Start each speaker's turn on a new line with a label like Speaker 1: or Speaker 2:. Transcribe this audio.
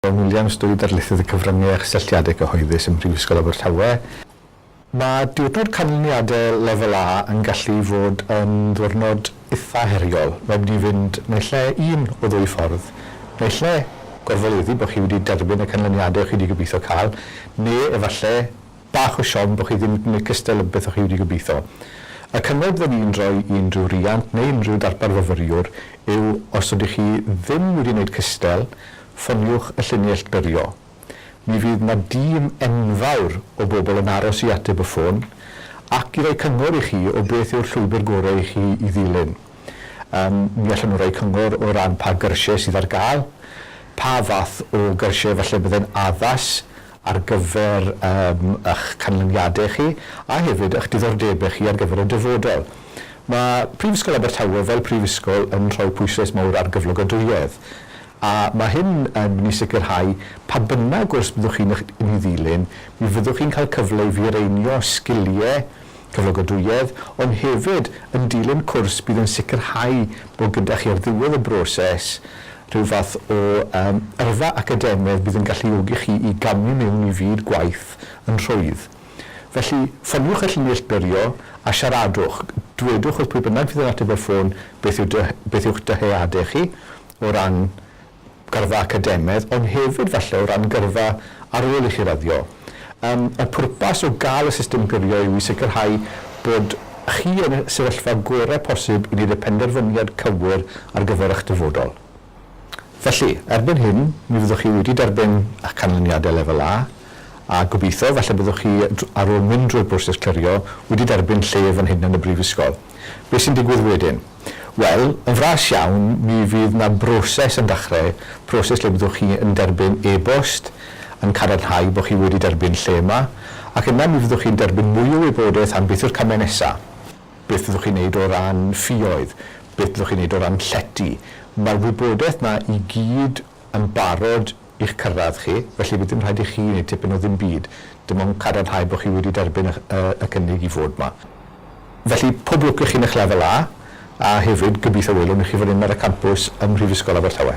Speaker 1: Dawn Williams, Dwy Ddarlithydd y Cyfryngau a Chysylltiadau Cyhoeddus ym Mhrifysgol Abertawe. Mae Diwrnod Canlyniadau Lefel A yn gallu fod yn ddiwrnod eitha' heriol. Mae wedi fynd naill ai un o ddwy ffordd, naill ai gorfoleddu bod chi wedi derbyn y canlyniadau o'ch chi wedi gobeithio cael, neu efallai bach o siom bo chi ddim yn gwneud cystal â beth o chi wedi gobeitho. Y cyngor fydden i'n rhoi i unrhyw riant neu unrhyw darpar fyfyriwr yw os ydych chi ddim wedi wneud cystal, ffoniwch y llinell glyrio. Mi fydd 'na dîm enfawr o bobl yn aros i ateb y ffôn ac i roi cyngor i chi o beth yw'r llwybr gorau i chi i ddilyn. Yym, mi allen nhw roi cyngor o ran pa gyrsiau sydd ar gael, pa fath o gyrsiau falle byddai'n addas ar gyfer eich canlyniadau chi a hefyd eich diddordebau chi ar gyfer y dyfodol. Mae Prifysgol Abertawe fel prifysgol yn rhoi pwyslais mawr ar gyflogadwyedd a mae hyn yn mynd i sicrhau pa bynnag gwrs byddwch chi'n ei ddilyn, mi fyddwch chi'n cael cyfle i fireinio sgiliau, cyflogadwyedd, ond hefyd yn dilyn cwrs bydd yn sicrhau bod gyda chi ar ddiwedd y broses rhyw fath o yym yrfa academaidd bydd yn galluogi chi i gamu mewn i fyd gwaith yn rhwydd. Felly, ffoniwch y llunie neillturio a siaradwch. Dwedwch wrth pwy bynnag fydd yn ateb y ffôn beth yw dy- beth yw'ch dyheadau chi o ran gyrfa academaidd, ond hefyd falle o ran gyrfa ar ôl i chi raddio. Yym, y pwrpas o gael y system gyrio yw i sicrhau bod chi yn y sefyllfa gorau posib i wneud y penderfyniad cywir ar gyfer eich dyfodol. Felly, erbyn hyn, mi fyddwch chi wedi derbyn eich canlyniadau Lefel A, a gobeithio, falle byddwch chi, ar ôl mynd drwy'r broses clirio, wedi derbyn lle fan hyn yn y Brifysgol. Beth sy'n digwydd wedyn? Wel, yn fras iawn, mi fydd 'na broses yn dachrau, proses lle byddwch chi yn derbyn e-bost yn cadarnhau bod chi wedi derbyn lle yma, ac yna mi fyddwch chi'n derbyn mwy o wybodaeth am beth yw'r camau nesaf, beth fyddwch chi'n neud o ran ffioedd, beth fyddwch chi'n neud o ran llety. Mae'r wybodaeth 'na i gyd yn barod i'ch cyrraedd chi, felly fydd dim rhaid i chi wneud tipyn o ddim byd, dim ond cadarnhau bod chi wedi derbyn y cynnig i fod 'ma. Felly, pob lwc i chi yn eich Lefel A, a hefyd, gobeithio welwn i chi fan hyn ar y campws ym Mhrifysgol Abertawe.